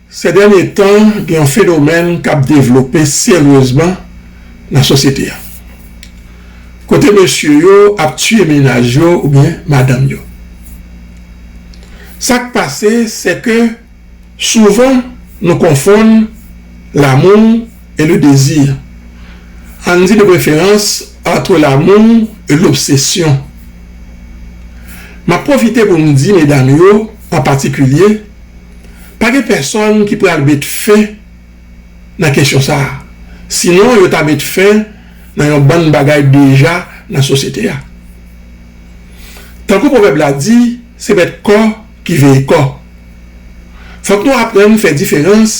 Sè dènye tan, gen yon fenomèn k ap devlope seryezman nan sosyete a, kote mesye yo ap tiye mennaj yo oubyen madanm yo. Sa k pase, sè ke souvan nou konfonn lamou. et le désir, ann di de preferans entre l'amour et l'obsession. M ap pwofite pou m di medam yo an patikilye, pa gen pèsòn ki pral met fen nan kesyon sa a, sinon yo ta met fen nan yon bann bagay deja nan sosyete a. Tankou pwovèb la di, se bèt kò ki veye kò. Fòk nou aprann fè diferans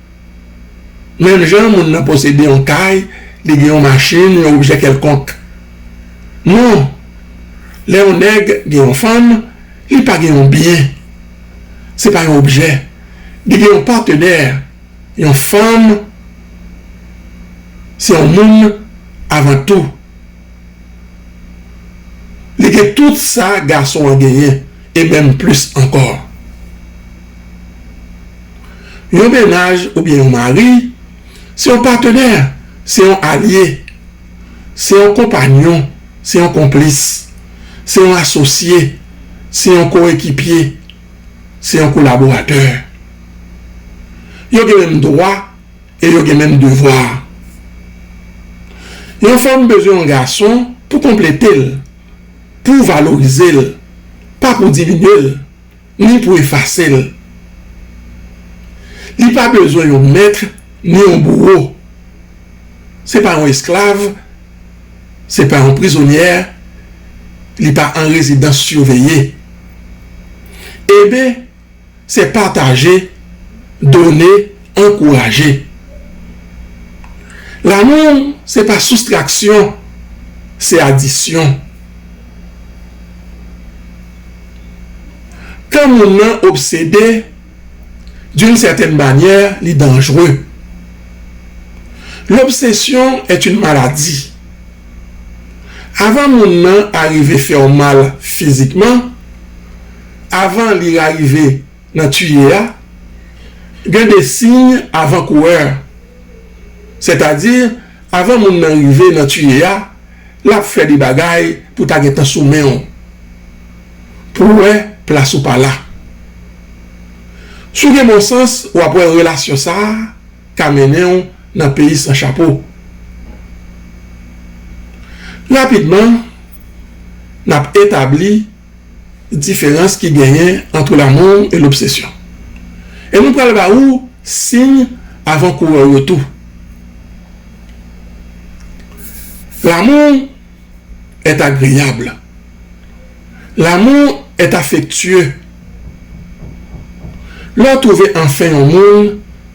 Menm jan moun nan posede yon kay, li gen yon machin, yon objè kèlkonk. Non, lè yon nèg gen yon fanm, li pa gen yon byen. Se pa yon objè. Li gen yon patenè, yon fanm se yon moun avan tou. Li gen tout sa gason an genyen e menm plis ankò. Yon mennaj oubyen yon mari se yon patenè, se yon alye, se yon konpanyon, se yon konplis, se yon asosye, se yon koekipye, se yon kolaboratè. Yo gen menm dwa. E yo gen menm devwa a. Yon fanm bezwen yon gason pou konplete l, pou valorize l, pa pou diminye l, ni pou efase l. Li pa bezwen yon mèt ni yon bouwo. Se pa yon esklav, se pa yon prizonyè, li pa an rezidans siveye. Eben! Se pataje, done, ankouraje. Lanmou se pa soustraksyon, se adisyon. Kan moun nan obsede, d'une certaine manière, li danjre. L'obsession est une maladie. Avan moun nan arive fè w mal fizikman, avan li rarive nan tuye a, gen de siy avan kourè. Sètadi, avan moun nan rive nan tuye a, l ap fè de bagay pou ta gentan sou men w, pou w wè plas ou pa la. Si w gen bon sans, w ap wè relasyon sa a ka mennen w nan peyi san chapo. Rapidman, n ap etabli. diferans ki genyen antre lanmou e lobsesyon. E nou pral ba ou siy avan kourè w yo tou. Lanmou est agreable. Lanmou est affectueux. Lè w twouve anfen yon moun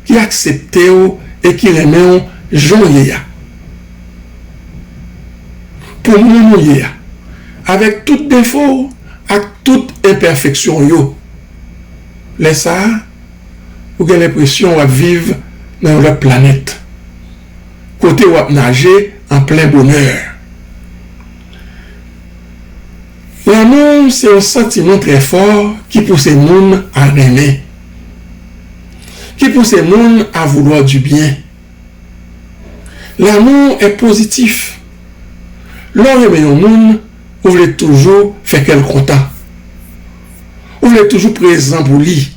ki aksepte w e ki renmen w jan w ye a. Pou moun ou ye a, avèk tout defo w ak tout enpèfeksyon w yo, lè sa a, ou gen lenpresyon w ap viv nan yon lòt planèt, kote w ap naje an plen bonè. Lanmou se yon santiman trè fò ki pouse moun a renmen, ki pouse moun a vouloir du bien. L'amour est positif. Lè w renmen yon moun, ou vle toujou fè kè l kontan. Ou vle toujou prezan pou li.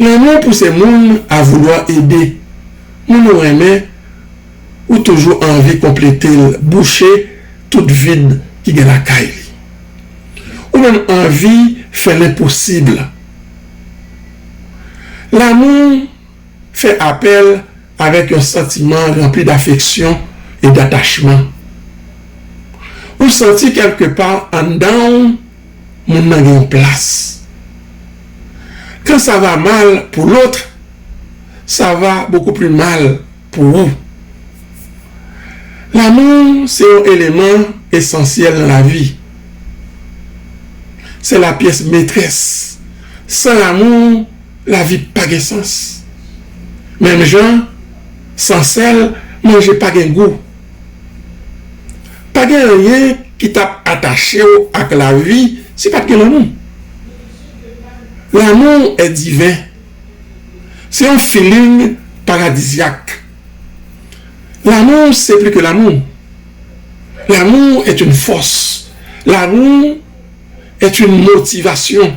Lanmou pouse moun a voulwa ede moun ou renmen, ou toujou anvi konplete l, bouche tout vid ki gen lakay li. Ou menm anvi fè lenposib. L'amour. fè apèl avèk yon santiman ranpli dafeksyon e datachman. Ou santi kèlke pa anndan w moun nan gen yon plas. Quand ça va mal pour l'autre, ça va beaucoup plus mal pour ou. Lanmou se yon eleman esansyèl nan lavi. C'est la pièce maîtresse. San lanmou. Lavi pa gen sans. Menm jan san sèl manje pa gen gou. Pa gen anyen ki tap atache w ak lavi si pat gen lanmou. Lanmou e diven. Se yon feeling paradisiak. Lanmou se pli ke lanmou. Lanmou e yn fòs. Lanmou e yn motivasyon.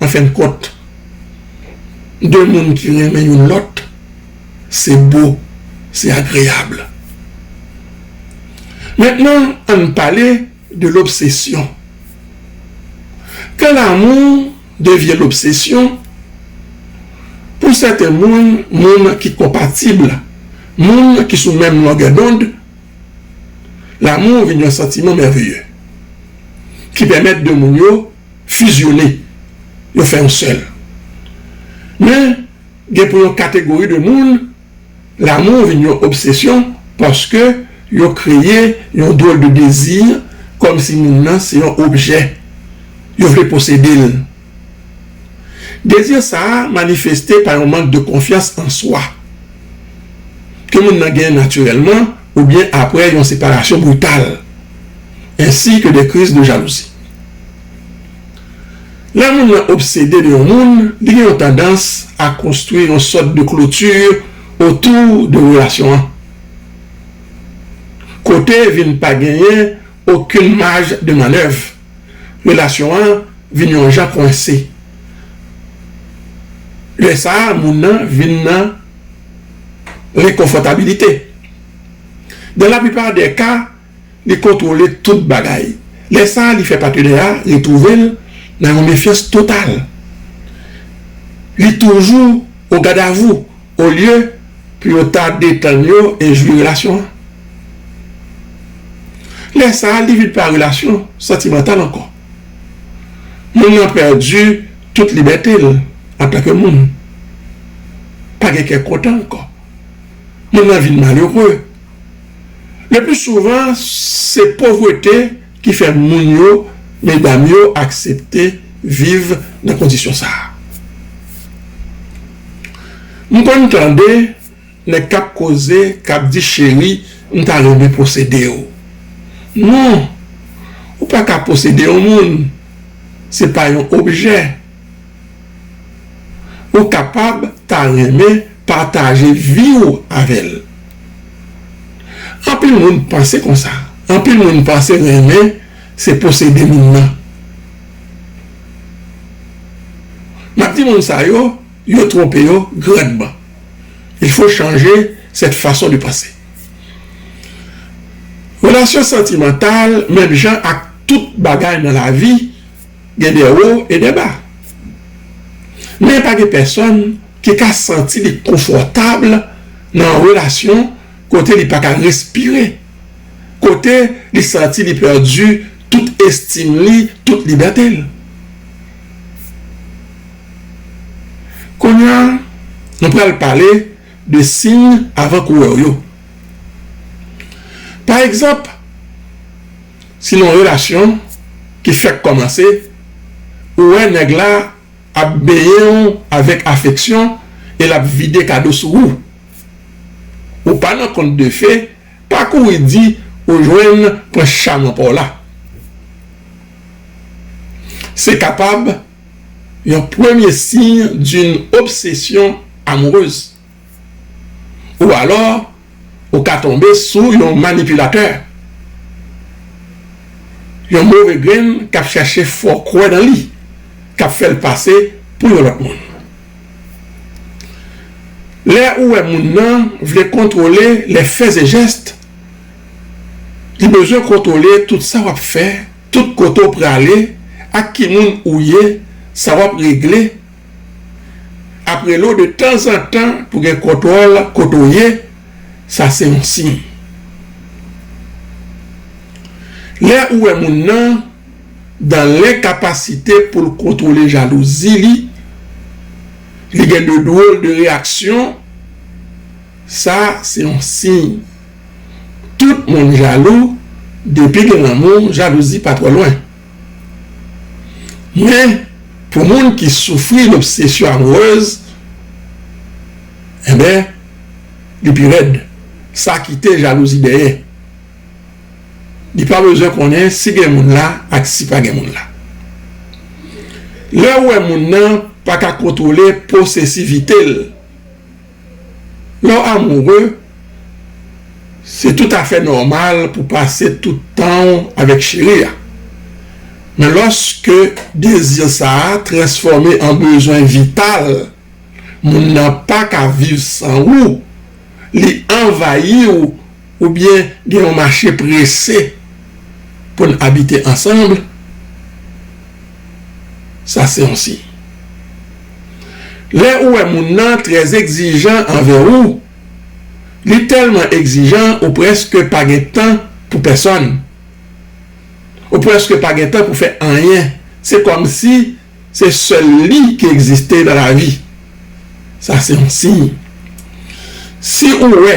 An fen kont, 2 moun ki renmen youn lòt, se bo, se agreyab. Mentnan an n pale de lobsesyon. Kan lamou devyen lobsesyon, pou sèten moun, moun ki konpatib, moun ki sou menm longè dond, lamou vin yon santiman mèveye ki pèmèt 2 moun yo. fizyone, yo fè yon sèl. Men, gen pou yon kategori de moun, lanmou vin yon obsesyon paske yo kreye yon dwòl de dezi kòm si moun nan se yon objè, yo vle posede l. Dezi sa a manifeste pa yon mank de konfyans an swa ke moun nan gen natirèlman. oubyen apre yon separasyon brital, ensi ke de kriz de jalouzi. Lè moun lan obsede de yon moun, li gen yon tandans a konstwi yon sòt de kloti otou de relasyon an, kote vin pa genyen okenn maj de mannèv, relasyon an vin yon jan kwense, lè sa a moun lan vin nan. rekonfòtabilite. Dan la plipa dè ka, li kontwole tout bagay. Lè sa a, li fè patenè a retwouve l nan yon mefyans total. Li toujou o gadavou olye pou yo ta detann yo e jwi relasyon an. Lè sa a, li vin pa relasyon santimantal ankò. Moun nan pèdi tout libète l antanke moun. Pa gen kè kontan ankò. Moun nan vin malere. Lepli souvan, se povrete ki fè moun yo, medam yo, aksepte viv nan kondisyon sa a. M konn tande. Nèg kap koze kap di cheri m ta renmen posede w non ou pa ka posede yon moun se pa yon objè ou kapab ta renmen pataje vi w avè l anpil moun panse konsa anpil moun panse renmen se posede moun nan map di moun sa yo Yo twonpe yo grandman. Il faut changer cette façon de penser. Relasyon santimantal menm jan ak tout bagay nan lavi gen de wo e de ba. Men pa gen pèsòn ki ka santi li konfòtab nan yon relasyon kote li pa ka respire, kote li santi li pèdi tout estim li, tout libète l. Konya nou pral pale de siy avan kourè w yo. Pa egzanp, si nan yon relasyon ki fèk kòmanse, ou wè nèg la ap benyen w avèk afeksyon e l ap vide kado sou ou, ou pa nan kont de fe, pa kouri di ou jwenn pwens chaman pa w la. Se kapab. Yon premye signe d'une obsession amoureuse ou alors ou ka tonbe sou yon manipulateur, yon move grenn kap chache fè w kwè nan li, kap fè l pase pou yon lòt moun. Lè ou wè moun nan vle kontwole les faits et gestes, li bezwen kontwole tout sa wap fè, Tout kote w prale ak ki moun ou ye sa wap regle ap rele w de tanzantan pou gen kontwòl kote w ye sa se yon siy lè ou wè moun nan dan lenkapasite pou l kontwole jalouzi li li gen de dwol de reyaksyon sa se yon siy. Tout moun jalou depi gen lanmou jalouzi pa twò lwen men pou moun ki soufri lobsesyon amourez enben li pi rèd sa kite jalouzi dèyè li pa bezwen konnen si gen moun la ak si pa gen moun la lèw wè moun nan paka kontwole posesivitel. Lè w amoure, se tout afè nòmal pou pase tout tan w avèk cheri a. Men lòske dezi sa a transfòme an bezwen vital, moun nan pa ka viv san ou, li anvayi w Oubyen gen yon mache prese pou n abite ansanm, sa se yon siy. Lè ou wè moun nan trè egzijan anvè ou, li tèlman egzijan ou prèske pa gen tan pou pèsòn, ou prèske pa gen tan pou fè anyen, se kòm si se sèl li ki egziste nan lavi, sa se yon siy. Si ou wè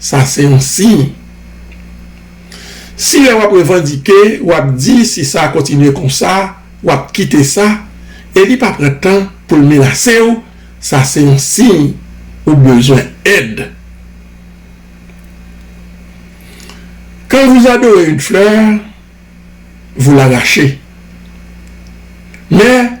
Sa se yon siy. Si lè w ap revandike, w ap di si sa kontinye konsa, w ap kite sa, e li pa pran tan pou l menase w, sa se yon siy ou bezwen èd. Quand vous adorez une fleur, vous l'arrachez. Men.